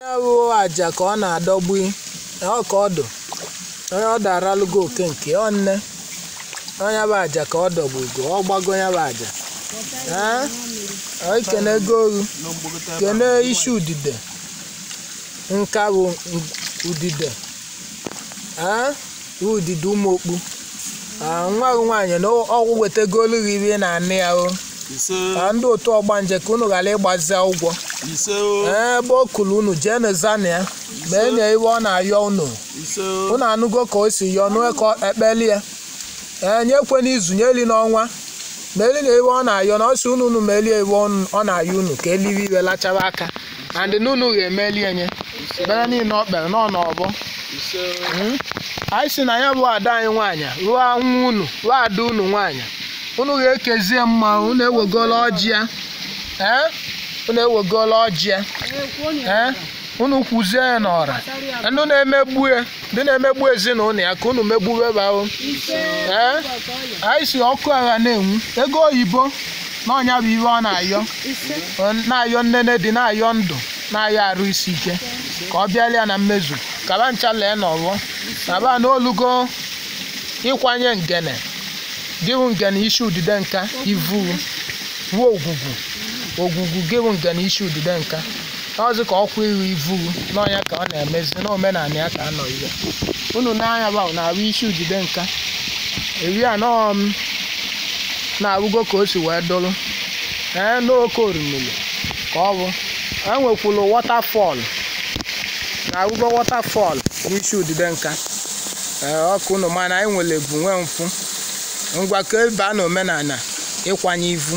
ya wụ aja ka ọ na-adọgbu ọ ka ọ dụ onye ọ daralụgo oke nke ọ nne onye bụ aja ka ọ dọgbugo ọ gbago ya bụ aja Ee, o kenego oghu kene isi udide nka bụ udide Ee, udide ụmụokpu Ah, nwa gị nwaanyị na ọgwụ wetagolu gị ihe ị na-ana ya o ise ka ndị otu ọgbanje ka unu ghara ịgbazi ụgwọ ise o Ee, ebe o kulu unu jee n'ezana ya meelụ ya ihe ọ na-ayọ unu ise o unu anụgo ka o si yọọ nue ka ọ ekpeli ya ee nye ekwe n'izu nye eli n'ọnwa meelụ ya ihe ọ na-ayọ na ọ si unu unu meelụ ya ihe ọ na-ayọ unu ka e liwe ihe lachaba aka and n'unu ga-emeli enye ekpere niile o kpere nọ n'ọgbọ Mm. anyị si na ya bụ ada anyị nwaanyị wụ nwa unu wụ ada unu nwaanyị unu ga-ekezie mma unu ewegola ọjị ya ee unu ewegola ọjị ya ee unu kwuzie ya n'ọra ndị na-emegbu ya ndị na-emegbu ezinụlọ ya ka unu megbuwe ba o ee anyị si ọkụ agha na-enwu ego oyibo na ọ ya bụ ihe ọ na-ayọ Ọ na-ayọ nnene dị na-ayọ ndụ na-ayọ arụ isi ike ka ọ bịara ya na mmezu ka ba ncha lee n'ọgbọ kaba n'olugo ịkwanye ngene gị wụ ngene isi udide nka ivu wuo ogwugwu ogwugwu gị wụ ngene isi udide nka n'ọzụ ka ọkwa iru ivu na ọ ya ka ọ na-emezi n'omenala ya ka anọ ihe unu n'anya ba na-arụ isi udide nka eri anọọ m na-arụgo ka o si wee dụrụ ee n'oke orimiri ka ọ bụ enwekwuru waterfall na-arụgo waterfall n'isi udide nka ee ọ ka unu maa na anyị nwere ebu nwee mfụ ngwa ka ebe a na omenala ịkwanye ivu